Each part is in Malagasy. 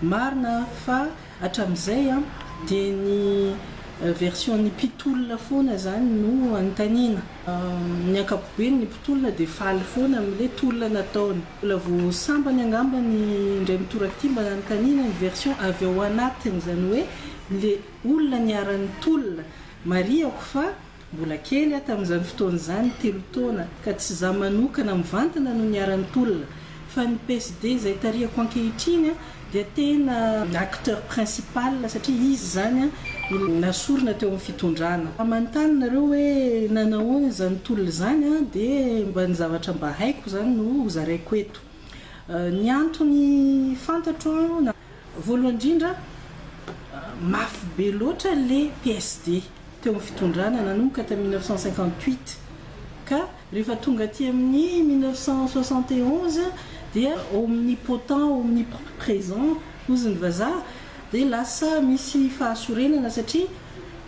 Marina fa hatramin'izay dia ny version-n'ny mpitolona foana izany no anontaniana. Ny ankapobeny ny mpitolona dia faly foana amin'ilay tolona nataony. Mbola vao sambany angamba ny indray mitoraka ity mba nanontaniana ny version avy ao anatiny, izany hoe ilay olona niara-nitolona. Marihako fa. Mbola kely aho tamin'izany fotoana izany, telo taona, ka tsy izaho manokana mivantana no niharan'ny tolona, fa ny PSD izay tarihako ankehitriny dia tena acteur principal, satria izy izany no nasorina teo amin'ny fitondrana. Raha manontany nareo hoe nanahoana izany tolona izany dia mba ny zavatra mba haiko izany no hozaraiko eto. Ny antony fantatro, voalohany indrindra, mafy be loatra ilay PSD. teo amin'ny fitondrana nanomboka tamin'ny mille neuf cent cinquante-huit ka rehefa tonga aty amin'ny mille neuf cent soixante et onze dia omnipotent, omnipresent hozy ny vazaha dia lasa misy fahasorenana satria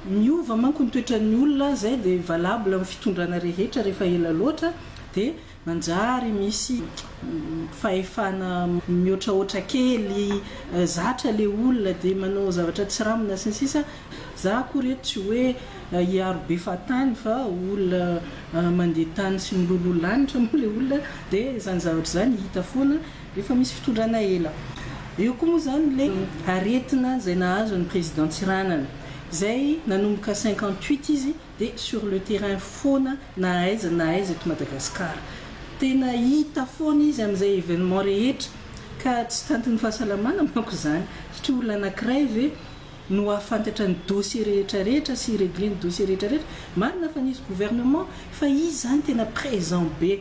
miova manko ny toetran'ny olona izay dia valable amin'ny fitondrana rehetra rehefa ela loatra dia Manjary misy fahefana mihoatrahoatra kely, zatra ilay olona dia manao zavatra tsiramina sy ny sisa Za akory eto tsy hoe hiaro be fahatany fa olona mandeha tany sy miloloha lanitra moa ilay olona dia izany zavatra izany hita foana rehefa misy fitondrana ela. Eo koa moa izany ilay aretina izay nahazo an'i Président Tsiranana izay nanomboka cinquante huit izy dia sur le terrain foana na aiza na aiza eto Madagascar. Tena hita foana izy amin'izay événement rehetra ka tsy tantin'ny fahasalamana manko izany satria olona anankiray ve no hahafantatra ny dossier rehetra rehetra sy hi-régler ny dossier rehetra rehetra. Marina fa nisy gouvernement fa izy izany tena présent be.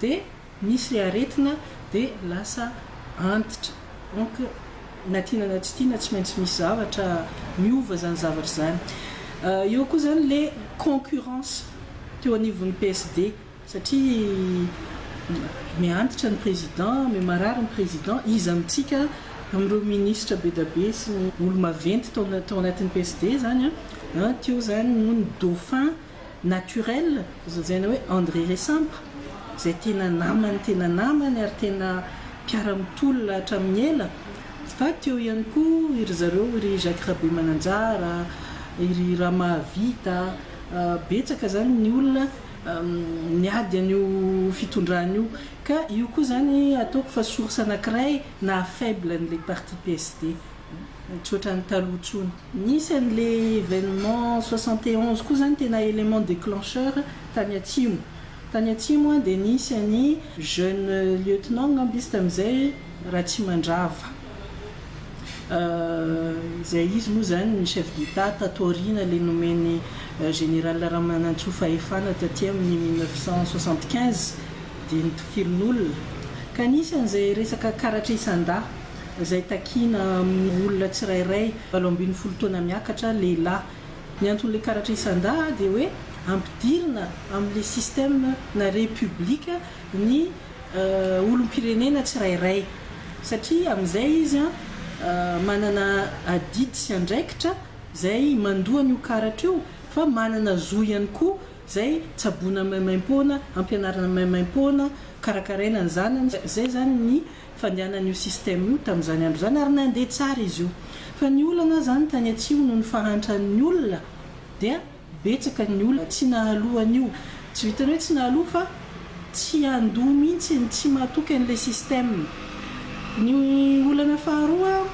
dia misy ilay aretina dia lasa antitra donc na tiana na tsy tiana tsy maintsy misy zavatra miova izany zavatra izany eo koa izany ilay concurrence teo anivon'ny PSD satria me antitra ny président me marary ny président iza amintsika amin'ireo ministra bedabe sy ny olo-maventy tao anatin'ny PSD izany an teo izany no ny dauphin Naturel, zazana hoe André Resampa, izay tena namany tena namany ary tena mpiara-mitolona hatramin'ny ela, fa teo ihany koa i ry zareo i ry Jacques Rabemananjara, i ry Ramahavita, betsaka izany ny olona niady an'io fitondrana io, ka io koa izany ataoko fa source anankiray naha faible an'ilay parti PSD. Misaotra ny taloha intsony. Nisy an'le evenement soixante et onze koa zany tena element declencheur tany atsimo. Tany atsimo an dia nisy an'i jeune lieutenant angamba izy tamin'izay Ratsimandrava. Izay izy moa zany ny chef d'etat tato aoriana le nomen'i général Ramanantsoa fahefana taty amin'ny mille neuf cent soixante quinze dia nitokirin'olona. Ka nisy an'izay resaka karatra isan-dahy. izay takiana amin'ny olona tsirairay valo ambin'ny folo taona miakatra, lehilahy. Ny anton'ilay karatra isan-dà dia hoe ampidirina amin'ilay système na repoblika ny olom-pirenena tsirairay, satria amin'izay izy manana adidy sy andraikitra izay mandoa an'io karatra io, fa manana zo ihany koa izay tsaboina maimaim-poana, ampianarina maimaim-poana, karakaraina ny zanany, izay izany ny. fandehanan'io système io tamin'izany andro izany ary nandeha tsara izy io. Fa ny olana izany tany atsimo noho ny fahantran'ny olona dia betsaka ny olona tsy nahaloa an'io. Tsy vitan'ny hoe tsy nahaloa fa tsy handoa mihitsy, tsy mahatoky an'ilay système. Ny olana faharoa,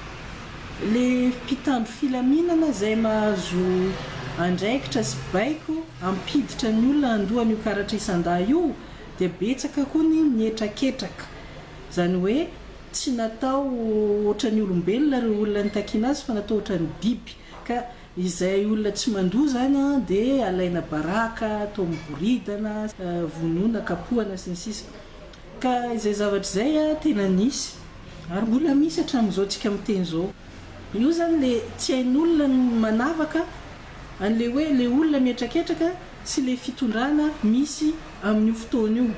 ilay mpitandro filaminana izay mahazo andraikitra sy baiko hampiditra ny olona handoa an'io karatra isan-dahy io dia betsaka koa ny mihetraketraka. Izany hoe tsy natao ohatran'ny olombelona ireo olona nitakiana azy fa natao ohatran'ny biby. Ka izay olona tsy mandoa izany dia alaina baraka, atao miboridana, vonoina, kapohana, sy ny sisa Ka izay zavatra izay tena nisy ary mbola misy hatramin'izao tsika miteny izao. Io izany ilay tsy hain'olona ny manavaka an'ilay hoe ilay olona mihetraketraka sy le fitondrana misy amin'io fotoana io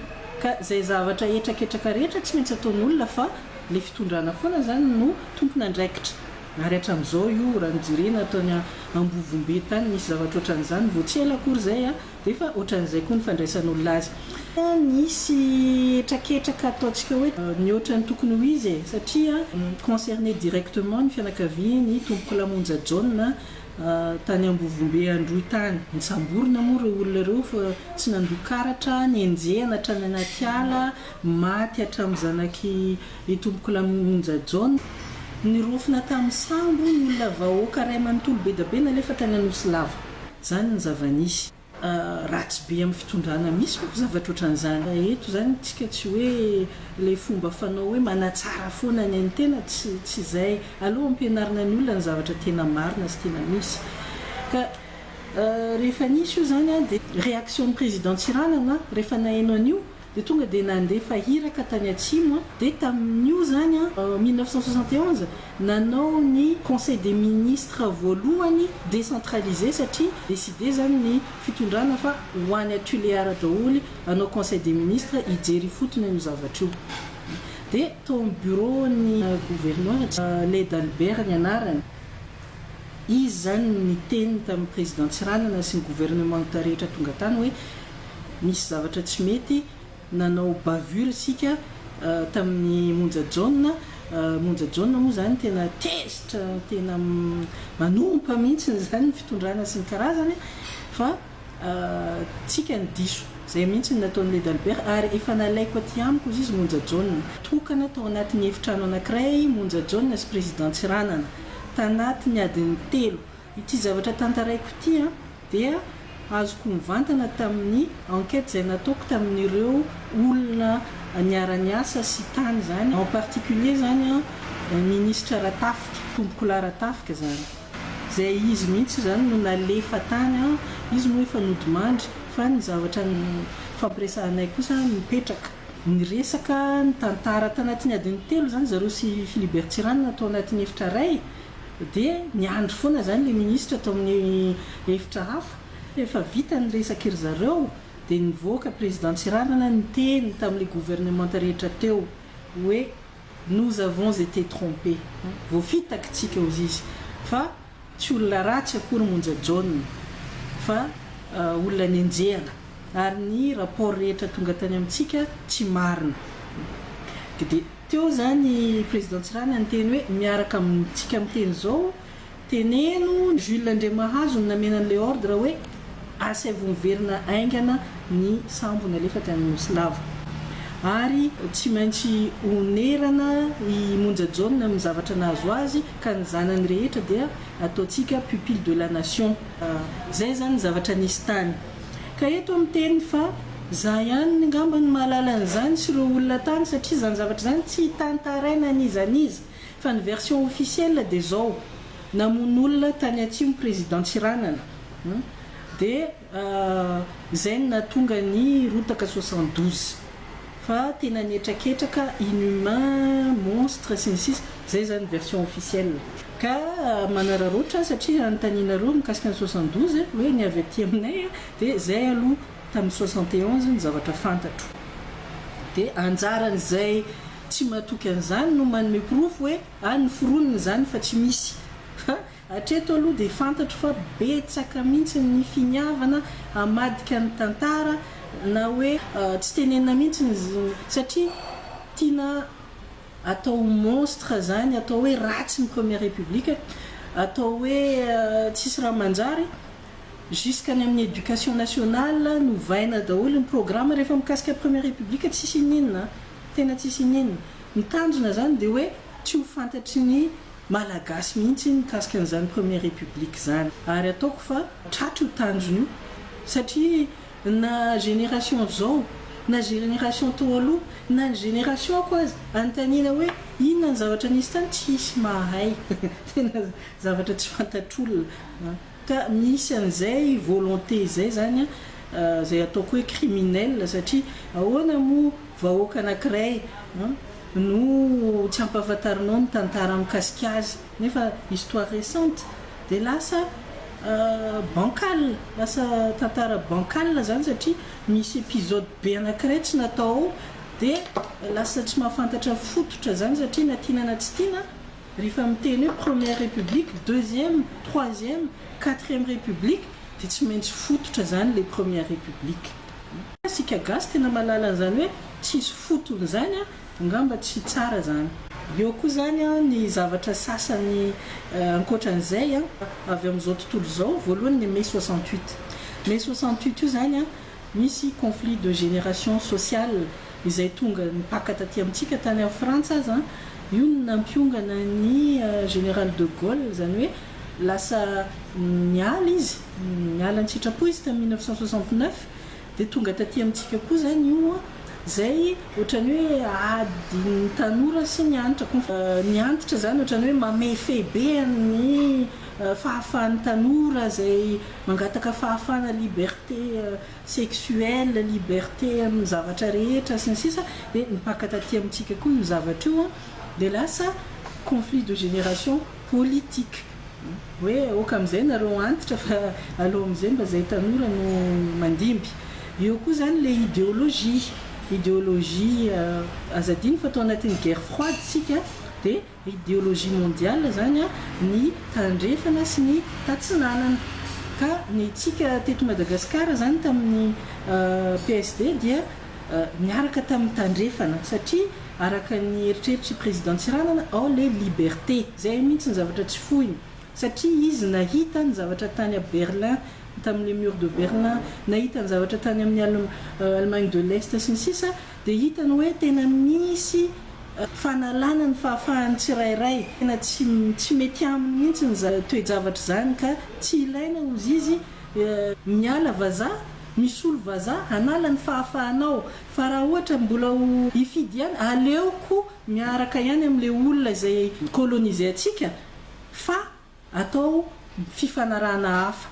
ka zay zavatra hetraketraka rehetra tsy maintsy ataon'olona fa le fitondrana foana zany no tompon'andraikitra ary hatram'izao io raha ny jerena tany ambovombe tany nisy zavatra otran'izany vao tsy ela akory zay a defa otran'izay koa ny fandraisan'olona azy fa nisy hetraketraka ataontsika hoe mihoatra ny tokony ho izy e satria concerner directement ny fianakavian'ny tompokolamonja Jaona tany Ambovombe Androy tany. Nisamborina moa ireo olona ireo fa tsy nandoa karatra, nenjehina hatrany anaty ala, maty hatramin'ny zanak'i Itompokolahy Monja John. Nirofona tamin'ny sambo ny olona vahoaka iray manontolo be dia be nalefa tany Anosilava. Izany ny zava-nisy. ratsy be amin'ny fitondrana misy manko zavatra ohatran'izany. Raha eto izany tsika tsy hoe ilay fomba fanao hoe manatsara foana ny an'ny tena, tsy tsy izay. Aleo ampianarina ny olona ny zavatra tena marina sy tena misy. Ka rehefa nisy io izany dia reaction-n'i Président Tsiranana rehefa naheno an'io dia tonga dia nandefa iraka tany atsimo an, dia tamin'io zany an, en mille neuf cent soixante et onze, nanao ny conseil des ministres voalohany décentralisé satria décidé zany ny fitondrana fa ho any a Tuléar daoly hanao conseil des ministres hijery ifotony an'io zavatra io. Dia tao amin'ny bureau-n'ny gouverneur, Led Albert ny anarany, izy zany niteny tamin'ny président Tsiranana sy ny gouvernementa rehetra tonga tany hoe, nisy zavatra tsy mety nanao bavure isika tamin'ny monja jaona, monja jaona moa izany tena tezitra tena manompa mihitsy izany ny fitondrana sy ny karazany fa tsika ny diso, izay mihitsy no nataon'i Leda Albert ary efa nalaiko aty amiko ozy izy monja jaona. Tokana tao anatin'ny efitrano anankiray monja jaona sy Président Tsiranana tanatin'ny adiny telo Ity zavatra tantaraiko ity dia azoko mivantana tamin'ny enquête izay nataoko tamin'ireo olona niara-niasa sy tany izany, en particulier izany ny Minisitra Ratafika, Tompokolahy Ratafika izany. Izay izy mihitsy izany no nalefa tany, izy moa efa nodimandry fa ny zavatra nifampiresahanay kosa mipetraka. Niresaka, nitantara tanatin'ny adiny telo izany zareo sy Philibert Tsiranana tao anatin'ny efitra iray. Dia niandry foana izany ilay minisitra tao amin'ny efitra hafa. Efa vita ny resak'i ry zareo dia nivoaka Président Tsiranana niteny tamin'ilay gouvernementa rehetra teo hoe nous avons été trompés, voafitaky tsika hozy izy fa tsy olona ratsy akory Monja John fa olona nenjehana ary ny rapport rehetra tonga tany amintsika tsy marina. Dia. Teo zany i Président Tsirana niteny hoe miaraka amintsika miteny zao, teneno Jules Andriamahazo no namena an'ilay ordre hoe asaivo miverina aingana ny sambo nalefa tany Nosy lava. Ary tsy maintsy honerana i Monja Jaona amin'ny zavatra nahazo azy ka ny zanany rehetra dia ataontsika pupille de la nation. Zay zany ny zavatra nisy tany. Ka eto aho miteny fa za ihany ngamba no mahalala an'izany sy ireo olona tany satria izany zavatra izany tsy hitantaraina an'iza n'iza fa ny version officielle dia izao, namono olona tany atsimo président Tsiranana dia izay no nahatonga ny rotaka soixante douze. fa tena nihetraketraka inhumains, monstres, sy ny sisa Izay izany ny version officielle. Ka manararaotra aho satria hanontanianareo mikasika ny soixante douze hoe ny avy aty aminay dia izay aloha tamin'ny soixante et onze ny zavatra fantatro. Dia anjaran'izay tsy matoky an'izany no manome porofo hoe any ny foronina izany fa tsy misy. Fa Hatreto aloha dia fantatro fa betsaka mihitsy ny finiavana hamadika ny tantara na hoe tsy tenenina mihitsy ny satria tiana atao ho monstre izany, atao hoe ratsy ny première république, atao hoe tsisy raha manjary, jusqu'any amin'ny éducation nationale novaina daholo ny programme rehefa mikasika première république tsisy iniana, tena tsisy iniana. Ny tanjona izany dia hoe tsy ho fantatry ny. Malagasy mihitsy iny mikasika an'izany première république izany ary ataoko fa tratry io tanjona io satria na génération izao na génération tao aloha na ny génération-ko aza anontaniana hoe inona ny zavatra nisy tany tsy hisy mahay tena zavatra tsy fantatr'olona ka misy an'izay volonté izay izany izay ataoko hoe criminel satria ahoana moa Vahoaka anankiray no tsy ampahafantarinao ny tantara mikasika azy nefa histoire récente dia lasa bancal, lasa tantara bancal izany satria misy episode be anankiray tsy natao ao dia lasa tsy mahafantatra fototra izany satria na tiana na tsy tiana rehefa miteny hoe première république, deuxième, troisième, quatrième république dia tsy maintsy fototra izany ilay première république. Fa isika gasy tena mahalala an'izany hoe tsisy fotony izany an! Angamba tsy tsara izany. Eo koa izany an ny zavatra sasany ankoatran'izay an, avy amin'izao tontolo izao, voalohany ny mai soixante huit. Mai soixante huit io izany an, misy conflit de génération sociale izay tonga nipaka taty amintsika, tany amin'ny Frantsa aza an, io no nampiongana an'i Général de Gaulle, izany hoe lasa niala izy. Niala an-tsitrapo izy tamin'ny mille neuf cent soixante neuf dia tonga taty amintsika koa izany io izay ohatran'ny hoe adin'ny tanora sy ny antitra. Ny antitra izany ohatran'ny hoe mamefehy be an'ny fahafahan'ny tanora izay mangataka fahafahana, liberté sexuelle, liberté amin'ny zavatra rehetra sy ny sisa dia nipaka taty amintsika koa io zavatra io dia lasa conflit de génération politique. Hoe aoka amin'izay nareo antitra fa aleo amin'izay mba zay tanora no mandimby. Eo koa zany le ideologie, ideologie aza adino fa tao anatin'ny guerre froide isika de ideologie mondiale zany ny tandrefana sy ny tatsinanana. Ka ny antsika teto Madagascar zany tamin'ny PSD dia niaraka tamin'ny tandrefana satria Araka ny eritreritr'i Président Tsiranana ao le liberté zay mihitsy ny zavatra tsy foiny satria izy nahita ny zavatra tany à Berlin tamin'ny le mur de Berlin, nahita ny zavatra tany amin'ny Allemagne de l'Est sy ny sisa dia hitany hoe tena misy fanalana ny fahafahan'ny tsirairay, tena tsy tsy mety aminy mihitsy ny za toe-javatra izany ka tsy ilaina hozy izy miala vazaha, misolo vazaha, hanala ny fahafahanao Fa raha ohatra mbola ho hifidy ihany, aleoko miaraka ihany amin'ilay olona izay coloniser antsika fa atao fifanarahana hafa.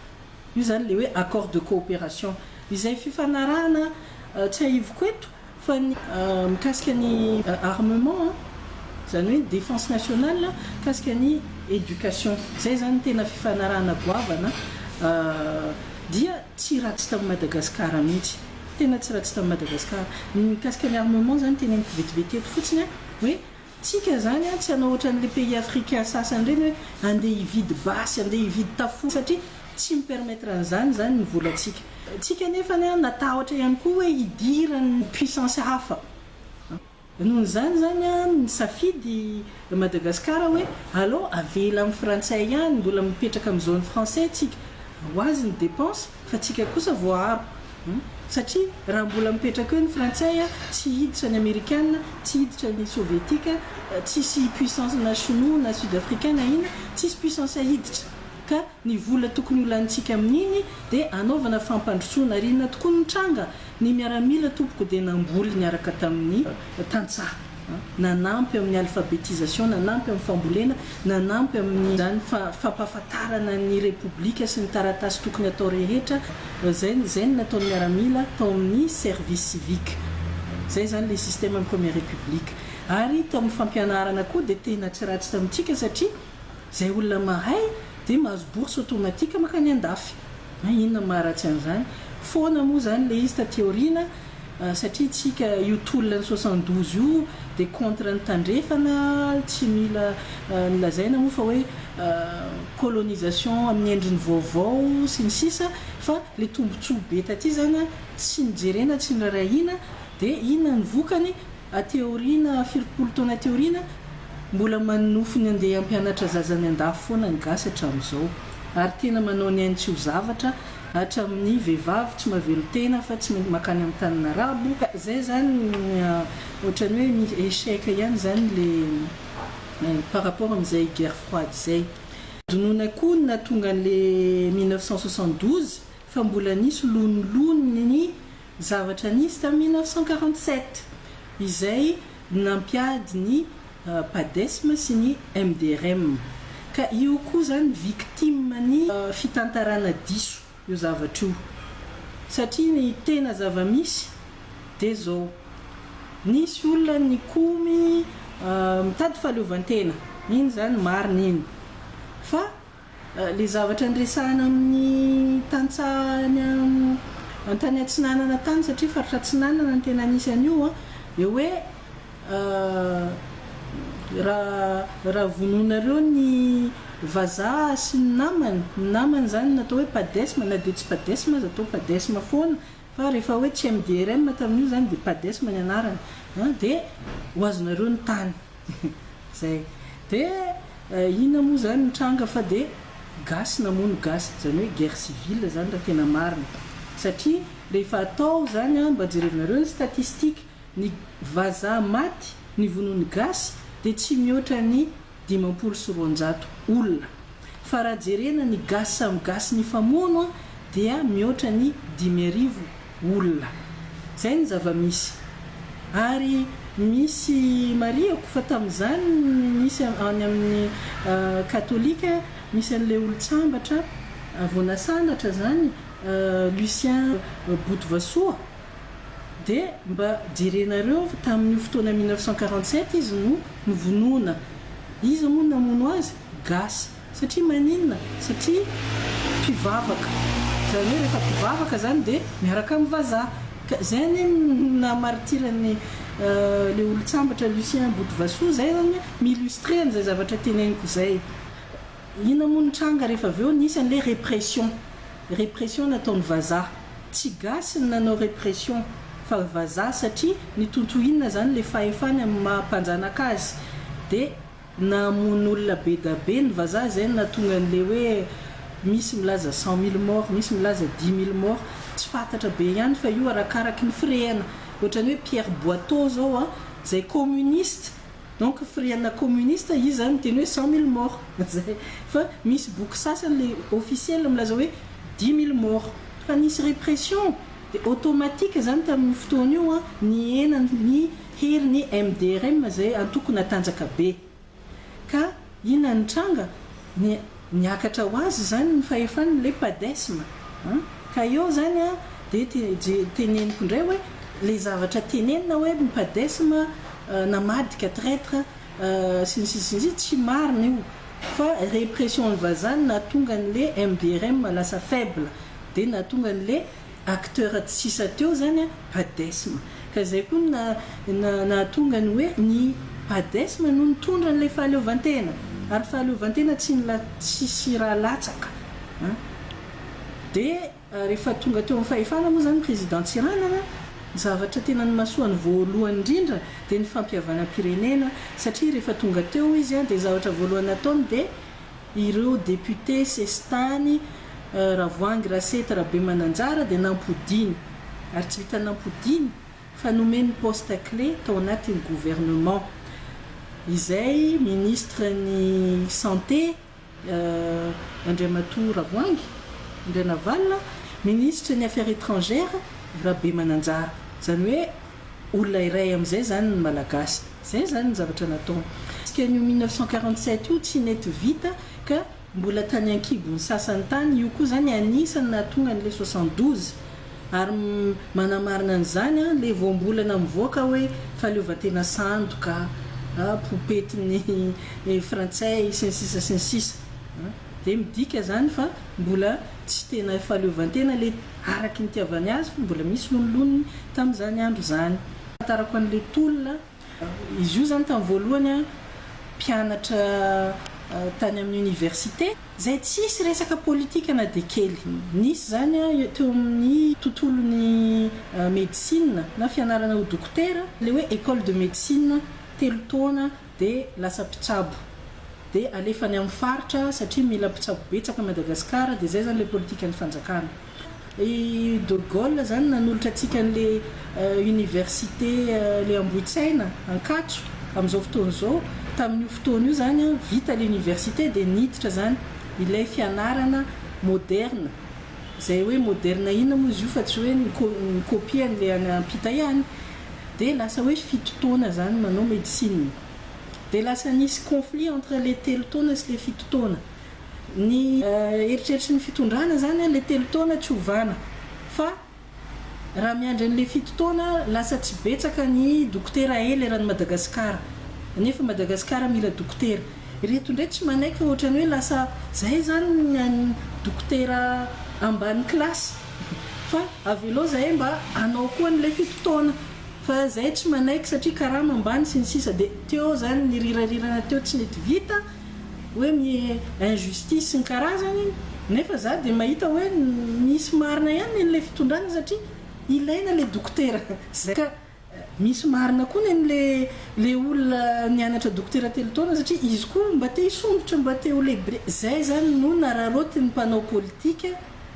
Io izany ilay hoe accord de coopération. Izay fifanarahana tsiahiviko eto fa ny mikasika ny armement, izany hoe ny défense nationale, mikasika ny éducation. Izay izany no tena fifanarahana goavana dia tsy ratsy tao Madagasikara mihitsy. Tena tsy ratsy tamin'i Madagascar. Ny mikasika ny armement zany teneniko vetivety eto fotsiny an, hoe tsika zany an tsy hanao otran'le pays africain sasany reny hoe andeha hividy basy, andeha hividy tafoa satria tsy mi permettre an'zany zany ny volantsika. Tsika nefany an natahotra ihany koa hoe hidiran'ny puissance hafa. Noho izany izany nisafidy Madagascar hoe aleo avela amin'ny frantsay ihany, mbola mipetraka amin'ny zone français tsika, ho azy ny dépenses fa tsika kosa voaaro. Satria raha mbola mipetraka eo ny frantsay tsy hiditra ny amerikana, tsy hiditra ny sovietika, tsisy puissance na shinoa na sud africain na inona, tsisy puissance hiditra ka. Ny vola tokony ho lanintsika amin'iny dia hanaovana fampandrosoana ary inona tokoa no nitranga? Ny miaramila tompoko dia namboly niaraka tamin'ny tantsaha, nanampy amin'ny alphabetisation, nanampy amin'ny fambolena, nanampy amin'izany fampahafantarana ny Repoblika sy ny taratasy tokony atao rehetra, izay izay no nataon'ny miaramila tao amin'ny service civique. Izay izany ilay système-n'ny première république. Ary tamin'ny fampianarana koa dia tena tsy ratsy tamintsika satria. Izay olona mahay dia mahazo bourse automatique mankany andafy. An inona maharatsy an'izany? Foana moa izany ilay izy taty aoriana satria isika io tolona ny soixante douze io dia contre ny tandrefana, tsy mila lazaina moa fa hoe colonisation amin'ny endriny vaovao sy ny sisa fa ilay tombotsoa be taty izany tsy nojerena, tsy norahina dia inona ny vokany? Aty aoriana, firompolo taona aty aoriana, mbola manonofy ny handeha hampianatra zaza any an-dafy foana ny gasy hatramin'izao. Ary tena manao ny ainy tsy ho zavatra hatramin'ny vehivavy tsy mavelon-tena fa tsy maintsy makany amin'ny tanin'ny arabo. Ka izay izany ohatran'ny hoe misy échec ihany izany ilay par rapport amin'izay guerre froide izay. Dinoina koa ny nahatonga an'ilay mille neuf cent soixante douze fa mbola nisy lonilony ny. Zavatra nisy tamin'ny mille neuf cent quarante sept izay nampiady ny Padesm sy ny MDRM ka io koa izany victime ny fitantarana diso io zavatra io satria ny tena zava-misy dia izao, nisy olona nikomy mitady fahaleovantena, iny izany marina iny fa Ilay zavatra niresahana amin'ny tantsaha any an-tany atsinanana tany, satria faritra atsinanana no tena nisy an'io, dia hoe raha vonoinareo ny vazaha sy ny namany, ny namany izany natao hoe padesma, na dia tsy padesma aza, atao padesma foana, fa rehefa hoe tsy MDRM tamin'io izany dia padesma ny anarany, dia ho azonareo ny tany. Zay. Dia inona moa zany ny tranga fa dia gasy namono gasy, izany hoe guerre civile zany raha tena marina. Satria rehefa atao zany an, mba jerevinareo ny statistiques, ny vazaha maty nivonoan'ny gasy dia tsy mihoatra ny dimampolo sy roanjato olona. Fa raha jerena ny gasy samy gasy nifamono dia mihoatra ny dimy arivo Olona. Izay ny zava-misy. Ary misy marihako fa tamin'izany misy any amin'ny katolika misy an'ilay olon-tsambatra vao nasandratra izany Lucien Botovasoa dia mba jerenareo fa tamin'io fotoana mille neuf cent quarante sept izy no novonoina. Iza moa no namono azy? Gasy. Satria maninona? Satria mpivavaka. Izany hoe rehefa mpivavaka izany dia miaraka amin'ny vazaha. Ka izay anie no naha martyr an'i ilay olon-tsambatra Lucien Botovasoa izay izany hoe mi-illustrer an'izay zavatra teneniko izay. Inona moa ny tranga rehefa avy eo nisy an'ilay répression. Répression nataon'ny vazaha. Tsy gasy ny nanao répression fa vazaha satria nitontohina izany ilay fahefany amin'ny maha mpanjanaka azy. Dia Namono olona be da be ny vazaha zay no nahatonga an'le hoe misy milaza cent mille morts, misy milaza dix mille morts, tsy fantatra be ihany fa io arakaraky ny firehana. Ohatran'ny hoe Pierre Boito zao a, zay communiste, donc firehana communiste izy zany miteny hoe cent mille morts, zay. Fa misy boky sasany le officiel milaza hoe dix mille morts. Fa nisy répression, de automatique zany tamin'io fotoana io a, nihena ny Hery ny MDRM izay antoko natanjaka be. Ka inona ny tranga? Ny niakatra ho azy izany ny fahefany le padesm an! Ka eo izany an dia teneniko indray hoe le zavatra tenenina hoe ny padesm namadika traitre sy ny sisa sy ny sisa tsy marina io fa repression ny vazaha no nahatonga an'le MDRM lasa faible dia nahatonga an'le acteurs tsy sisa teo zany a padesm ka zay koa no na nahatonga ny hoe ny padesm no nitondra an'ilay fahaleovantena ary fahaleovantena tsy nila tsisy raha latsaka an de rehefa tonga teo amin'ny fahefana moa zany président Tsiranana zavatra tena nimasoany voalohany indrindra de ny fampihavanam-pirenena satria rehefa tonga teo izy a de zavatra voalohany nataony de Ireo député sesitany Ravoahangy Rasety Rabemananjara dia nampodiany ary tsy vitan'ny nampodiany fa nomeny poste clé tao anatin'ny gouvernement izay ministre ny santé Andriamatoa Ravoahangy Andrianavalona, ministre ny affaires étrangères Rabemananjara izany hoe Olona iray amin'izay izany ny Malagasy. Izay izany ny zavatra nataony. Tsika an'io 1947 io tsy nety vita ka mbola tany an-kibon'ny sasany tany. Io koa izany anisan'ny nahatonga an'ilay 72. Ary manamarina an'izany ilay voambolana mivoaka hoe fahaleovantena sandoka, popetin'ny frantsay, sy ny sisa sy ny sisa. Dia midika izany fa mbola tsy tena fahaleovantena ilay araky ny itiavany azy fa mbola misy loniloniny tamin'izany andro izany. Ahafantarako an'ilay tolona, izy io izany tamin'ny voalohany mpianatra tany amin'ny oniversite izay tsisy resaka politika na dia kely. Nisy izany teo amin'ny tontolon'ny medisina na fianarana ho dokotera, ilay hoe école de médecine telo taona dia lasa mpitsabo dia alefa any amin'ny faritra satria mila mpitsabo betsaka Madagascar dia izay izany ilay politikan'ny fanjakana. I de Gaulle izany nanolotra antsika an'ilay université ilay Ambohitsaina, Ankatso, amin'izao fotoana izao, tamin'io fotoana io izany vita ilay université dia niditra izany ilay fianarana moderne, izay hoe moderne inona moa izy io fa tsy hoe ni-copie an'ilay any ampita ihany. dia lasa hoe fito taona zany manao médecine dia lasa nisy conflit entre le telo taona sy le fito taona ny eritreritry ny fitondrana zany a le telo taona tsy ovana fa raha miandry anle fito taona lasa tsy betsaka ny dokotera ela eran'i Madagascar nefa Madagascar mila dokotera ireto ndray tsy manaiky fa ohatrany hoe lasa zay zany ny an'ny dokotera ambany classe Fa avelao zahay mba hanao koa an'ilay fito taona fa zahay tsy manaiky satria karama ambany sy ny sisa dia teo zany ny rirarirana teo tsy nety vita hoe mi injustice sy ny karazany nefa za dia mahita hoe misy marina ihany ny an'ilay fitondrana satria ilaina ilay dokotera zay ka Misy marina koa nen le le olona nianatra dokotera telo taona satria izy koa mba te hisondrotra mba te ho lehibe zay zany no nararaotiny mpanao politika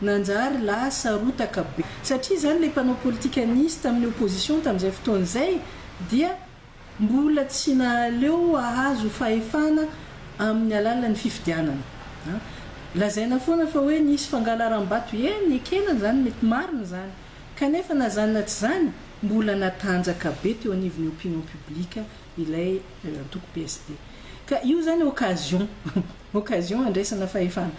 nanjary lasa rotaka be satria zany le mpanao politika nisy taminy opposition tamizay fotoana zay dia mbola tsy nahaleo ahazo fahefana aminy alalany fifidianana an lazaina foana fa hoe nisy fangalarambato eny ekena zany mety marina zany. Kanefa na izany na tsy izany, mbola natanjaka be teo anivon'ny opinion publique ilay antoko PSD. Ka io izany occasion, occasion handraisana fahefana.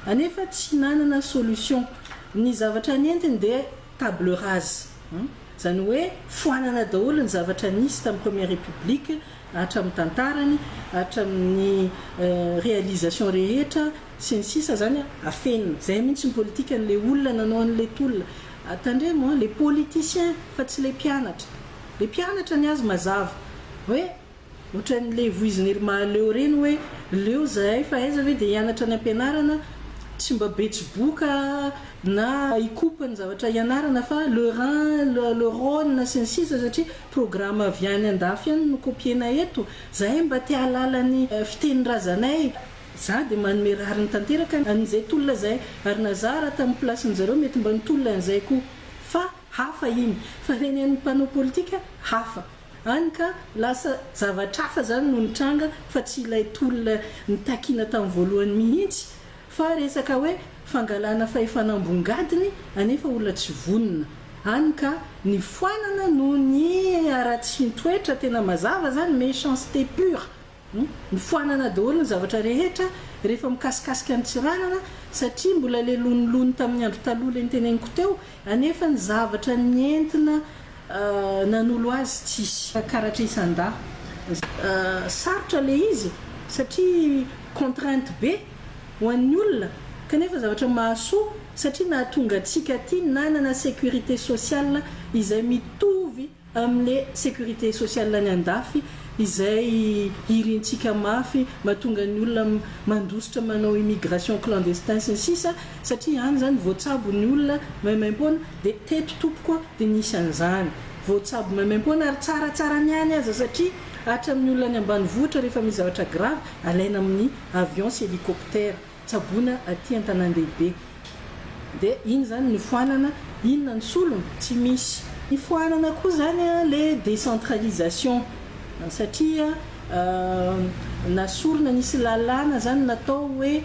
Anefa tsy nanana solution. Ny zavatra nentiny dia table rase. Izany hoe foanana daholo ny zavatra nisy tamin'ny Première République, hatramin'ny tantarany, hatramin'ny réalisation rehetra, sy ny sisa zany an, afenina. Zay mintsy ny politika an le olona nanao an le tolona. Tandremo an, le politicien fa tsy le mpianatra. Le mpianatra ny azy mazava hoe otran le voiziny ry Mahaleo reny hoe leo zahay fa aiza ve dia hianatra any ampianarana tsy mba betsiboka na hikopa ny zavatra hianarana fa le Rhin, le Rhone sy ny sisa satria programme avy any andafy any no copiena eto. Zahay mba te ahalala ny fitenin-drazanay. Za de manome rariny tanteraka an'izay tolona zay ary na za ra tam place-ny zareo mety mba nitolona an'izay koa fa hafa iny fa reny an'ny mpanao politika hafa any ka lasa zavatr'hafa zany no nitranga fa tsy ilay tolona nitakiana tam voalohany mihitsy fa resaka hoe fangalana fahefana ambongadiny anefa olona tsy vonona any ka nifoanana noho ny haratsian-toetra tena mazava zany méchanceté pure Nifoanana daholo ny zavatra rehetra rehefa mikasikasika an'i Tsiranana satria mbola ilay lonilony tamin'ny andro taloha ilay noteneniko teo anefa ny zavatra nentina nanolo azy tsisy. Karatra isan-dahy. Sarotra ilay izy satria contrainte be ho an'ny olona kanefa zavatra mahasoa satria nahatonga antsika aty nanana sécurité sociale izay mitovy Amle securite sociale any andafy izay irintsika mafy matonga ny olona mandositra manao immigration clandestin sy ny sisa satria any zany voatsabo ny olona maimaimpoana dia teto tompoko dia nisy an'izany voatsabo maimaimpoana ary tsaratsara ny any aza satria hatramin'ny olona any ambanivohitra rehefa misy zavatra grave alaina amin'ny avions sy helicoptère tsaboina aty antanandehibe de iny zany nifoanana inona ny solony tsy misy. Nifoanana koa zany le décentralisation satria na sorona nisy lalàna zany natao hoe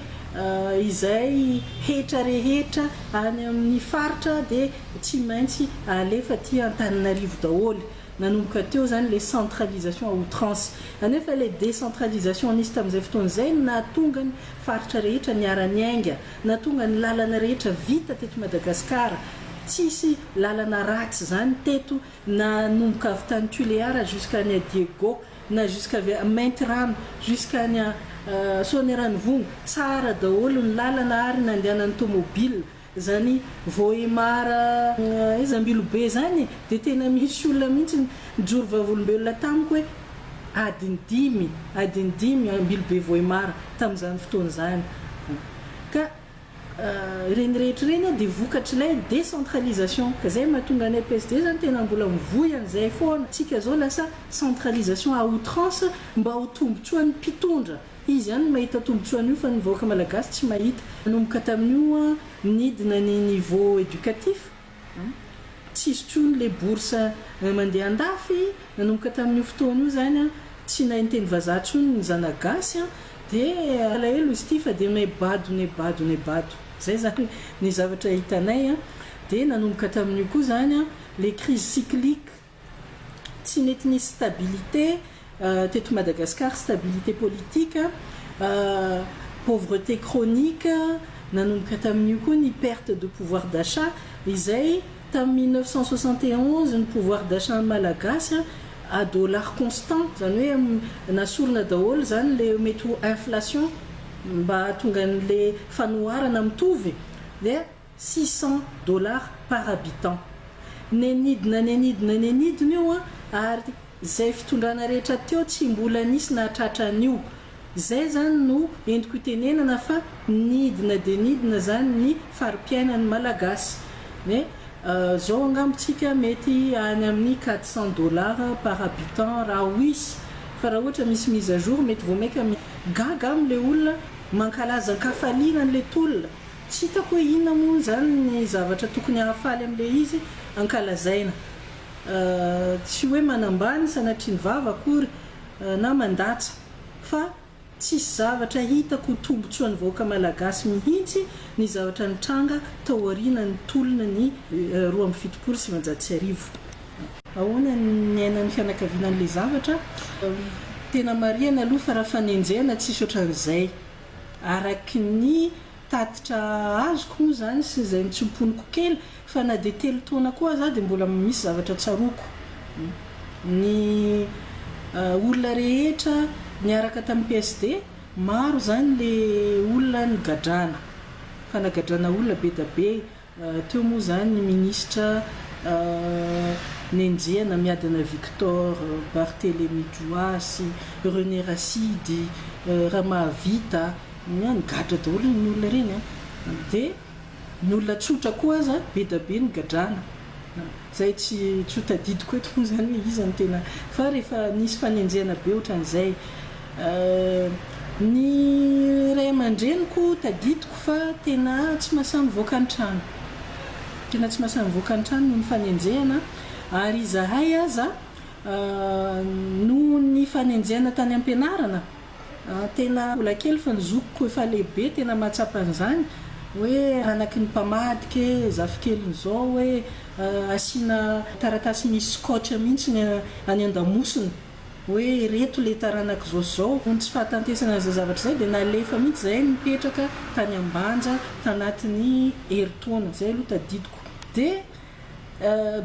izay hetra rehetra any amin'ny faritra de tsy maintsy alefa aty antaninarivo daholo. Nanomboka teo izany ilay centralisation à outrance. Anefa ilay décentralisation nisy tamin'izay fotoana izay no nahatonga ny faritra rehetra niara-niainga, nahatonga ny lalana rehetra vita teto Madagasikara. Tsisy lalana ratsy izany teto nanomboka avy tany Tuléar jusqu'à any à Diego, na jusqu'à avy à Maintirano jusqu'à any à Soanierano Vongo. Tsara daholo ny lalana ary nandehanan'ny tomobile. Zany vohemar zambilobe zany de tena misy olona mintsy nijoro vavolombelona tamiko hoe adiny dimy adiny dimy ambilobe vohemar tamzany fotoana zany ka ireny rehetra ireny a de vokatr'ilay decentralisation ka zay mahatonga anay PSD zany tena mbola mivoy an'izay foana tsika zao lasa centralisation à outrance mba ho tombotsoan'ny mpitondra. Izy ihany no mahita tombotsoa an'io fa ny vahoaka malagasy tsy mahita. Nanomboka tamin'io an, nidina ny niveau educatif an, tsisy tsony le bourse mandeha andafy, nanomboka tamin'io fotoana io zany an, tsy nahay niteny vazaha tsony ny zana gasy an, de alahelo izy ty fa de ne bado ne bado ne bado, zay zany ny zavatra hitanay an, de nanomboka tamin'io koa zany an, le crise cyclique. Tsy nety nisy stabilité teto Madagascar, stabilité politique, pauvreté chronique, nanomboka tamin'io koa ny perte de pouvoir d'achat, izay tamin'ny mille neuf cent soixante et onze ny pouvoir d'achat-n'ny Malagasy à dollars constants, izany hoe nasorina daholo izany ilay mety ho inflation mba hahatonga an'ilay fanoharana mitovy dia six cents dollars par habitant. Nenidina nenidina nenidina io an, ary zay fitondrana rehetra teo tsy mbola nisy nahatratra an'io. Zay zany no entiko itenenana fa nidina dia nidina zany ny fari-piainan'ny Malagasy. Ny zao angamba tsika mety any amin'ny quatre cents dollars par habitant raha wisy, fa raha ohatra misy mise à jour mety vao maika mi gaga aminy le olona mankalaza ankafaliana an'le tolona. Tsy hitako hoe inona moa izany ny zavatra tokony hahafaly amin'ilay izy ankalazaina. Tsy hoe manambany sanatria ny vava akory na mandatsa fa tsisy zavatra hitako ho tombotsoan'ny vahoaka malagasy mihitsy ny zavatra nitranga tao aorianan'ny tolona ny roa amby fitopolo sy sivanjato sy arivo. Ahoana ny niainan'ny fianakaviana an'ilay zavatra? Tena marihana aloha fa raha fanenjehana tsisy ohatran'izay. Araky ny tatitra azoko moa izany sy izay nitsoa-poniko kely fa na dia telo taona koa aza aho dia mbola misy zavatra tsaroako. Ny olona rehetra niaraka tamin'ny PSD, maro izany ilay olona nigadrana, fa nagadrana olona be dia be, Teo moa izany ny minisitra nenjehana miadana Victor Barthelemy Juhasy, René Rasidy, Ramahavita, ny gadra daholo ireny olona ireny an! Dia ny olona tsotra koa aza be dia be no gadrana. Izay tsy tsy ho tadidiko eto moa izany hoe iza no tena fa rehefa nisy fanenjehana be ohatran'izay Ny ray aman-dreniko tadidiko fa tena tsy mahasahy mivoaka ny trano. Tena tsy mahasahy mivoaka ny trano noho ny fanenjehana ary izahay aza noho ny fanenjehana tany am-pianarana, tena mbola kely fa ny zokiko efa lehibe tena mahatsapa an'izany hoe anaky ny mpamadika e, zafikeliny izao e, asiana taratasy misy scotch mihitsy ny any an-damosiny. hoe ireto ilay taranak'izao sy izao, noho ny tsy fahatantesana an'izay zavatra izay dia nalefa mihitsy izahay nipetraka tany Ambanja tanatin'ny herintaona, izay aloha tadidiko, dia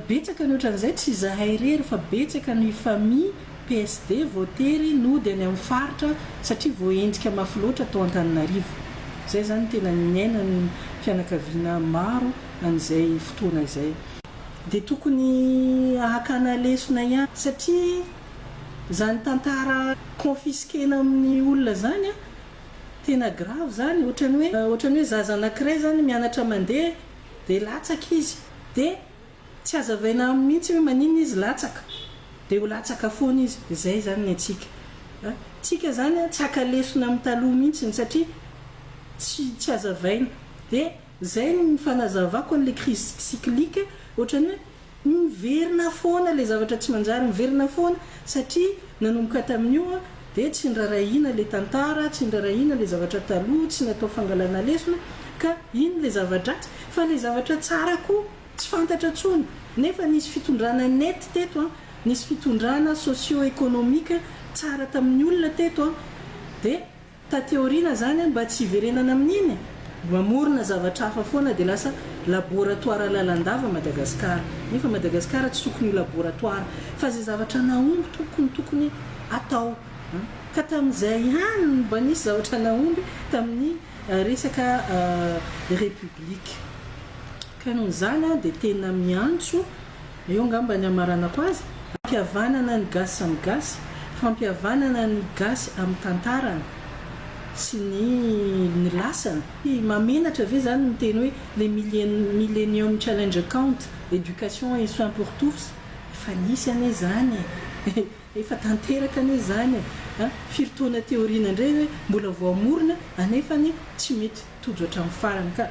betsaka ny ohatran'izay tsy izahay irery fa betsaka ny famille PSD voatery nody any amin'ny faritra satria voaendrika mafy loatra tao Antananarivo, izay izany no tena niainan'ny fianakaviana maro an'izay fotoana izay. dia tokony hakana lesona ihany satria zany tantara confisquena amin'ny olona zany an, tena grave zany otrany hoe otrany hoe zaza anakiray zany mianatra mandeha dia latsaka izy dia tsy azavaina aminy mihitsy hoe maninona izy latsaka dia ho latsaka foana izy dia zay zany ny antsika an, tsika zany an tsy haka lesona amin'ny taloha mihitsy satria tsy tsy azavaina dia. Zay ny fanazavako an'le crise cyclique, ohatrany hoe miverina foana le zavatra tsy manjary, miverina foana satria nanomboka tamin'io dia tsy nirarahiana le tantara, tsy nirarahiana le zavatra taloha, tsy natao fangalana lesona ka iny le zava-dratsy fa le zavatra tsara koa tsy fantatra tsony nefa nisy fitondrana nety teto an, nisy fitondrana socio-economique tsara tamin'ny olona teto an dia. Taty aoriana zany an mba tsy hiverenana amin'iny e! Mamorona zavatra hafa foana dia lasa laboratoara lalandava Madagascar. Nefa Madagascar tsy tokony ho laboratoara fa zay zavatra nahomby tompoko no tokony atao an! Ka tamin'izay ihany no mba nisy zavatra nahomby tamin'ny resaka République. Ka noho izany aho dia tena miantso Eo ngamba ny hamaranako azy, fampihavanana ny gasy samy gasy, fampihavanana ny gasy amin'ny tantarany sy ny ny lasany. Mahamenatra ve zany ny miteny hoe le millenium challenge account, education et soins pour tous? Efa nisy anie zany e! Efa tanteraka anie zany e! Firy taona te aoriana ndray hoe mbola voamorona anefany tsy mety. Tojo hatramin'ny farany ka.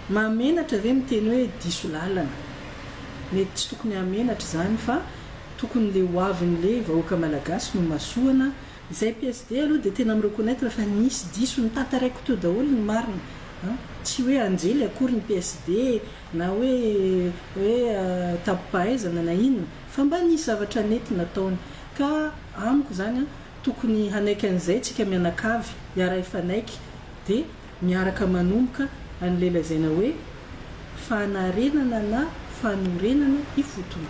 Mahamenatra ve miteny hoe diso lalana? Mety tsy tokony hahamenatra izany fa tokony le hoavin'le vahoaka malagasy no masoana, izay PSD aloha dia tena mi-reconnaitre fa nisy diso, ny tantaraiko teo daholo ny marina an! tsy hoe anjely akory ny PSD na hoe hoe tampopahaizana na inona fa mba nisy zavatra nety nataony ka amiko izany an tokony hanaiky an'izay tsika mianakavy hiara-hifanaiky dia miaraka manomboka an'ilay lazaina hoe fanarenana na fanorenana ifotony.